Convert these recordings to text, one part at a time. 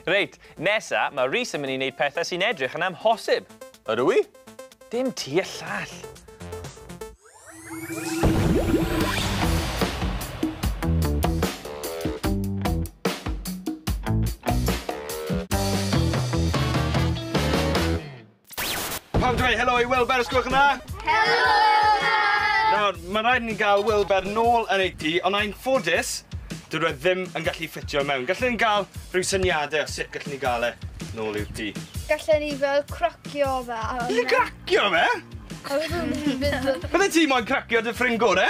Reit, nesa, mae Rhys yn mynd i wneud pethau sy'n edrych yn amhosib. Ydw i? Dim ti a llall. Pam dweud helo i Wilber os gwelwch yn dda? Helo Wilber! Nawr, mae'n rhaid i ni gael Wilber nôl yn ei tŷ, ond ai'n ffodus, dydw e ddim yn gallu ffitio mewn. Gallwn ni gael rhyw syniadau o sut gallwn ni gael e nôl i'w tŷ? Gallwn ni fel cracio fe. Gallwn ni cracio fe? Bydde ti moyn cracio dy ffrind gore?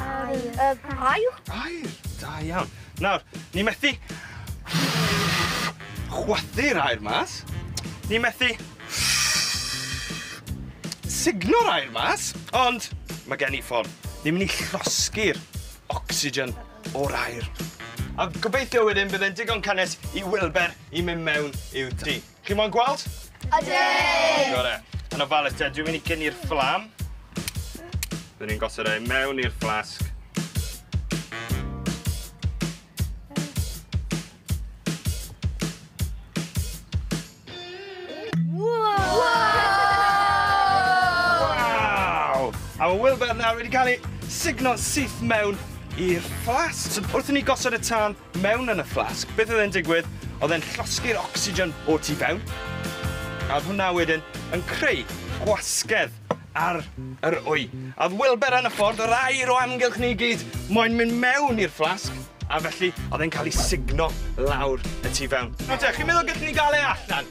Aur. Yy, aur? Aur! Da iawn. Nawr, ni methu... chwythu'r aur mas. Ni methu... sugno'r aur mas. Ond, mae gen i ffordd. Ni'n mynd i llosgi'r ocsigen o'r aur. A gobeithio wedyn bydd e'n digon cynnes i Wilber i mynd mewn i'w tŷ. Chi mo'n gweld? Ydw! Gore. Yn ofalus te, dwi'n mynd i gynnu'r fflam. Dwi'n ni'n gosod ei mewn i'r fflasg. A mae Wilbert nawr wedi cael ei signo'n syth mewn i'r fflas. So, wrth i ni gosod y tân, mewn yn y fflasg, beth oedd e'n digwydd, oedd e'n llosgi'r ocsigen o tu fewn, a oedd hwnna wedyn yn creu gwasgedd ar yr wy. A oedd Wilber yn y ffordd, yr air o amgylch ni i gyd, moyn mynd mewn i'r fflasg, a felly oedd e'n cael ei sugno lawr y tu fewn. Nawr te, chi'n meddwl gallwn ni gael e allan?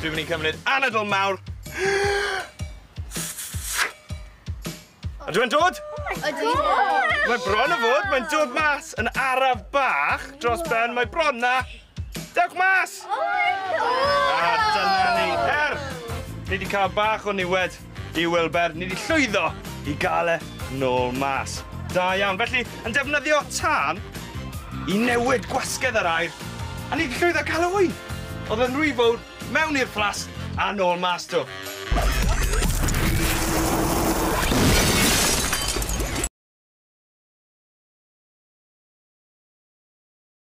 Dwi'n mynd i cymryd anadl mawr. Ydw e'n dod? Ydw. Mae bron o fod, mae'n dod mas yn araf bach dros ben, mae bron na. Dewch mas! Oh my god! A dyna ni, er! Ni wedi cael bach o niwed. Dyw Welber nid i llwyddo i gael e nôl mas. Da iawn. Felly, yn defnyddio tân i newid gwasgedd yr aer, a nid llwyddo i gael ŵyn! Oedd yn rhy fowr, mewn i'r fflasg, a nôl mas to.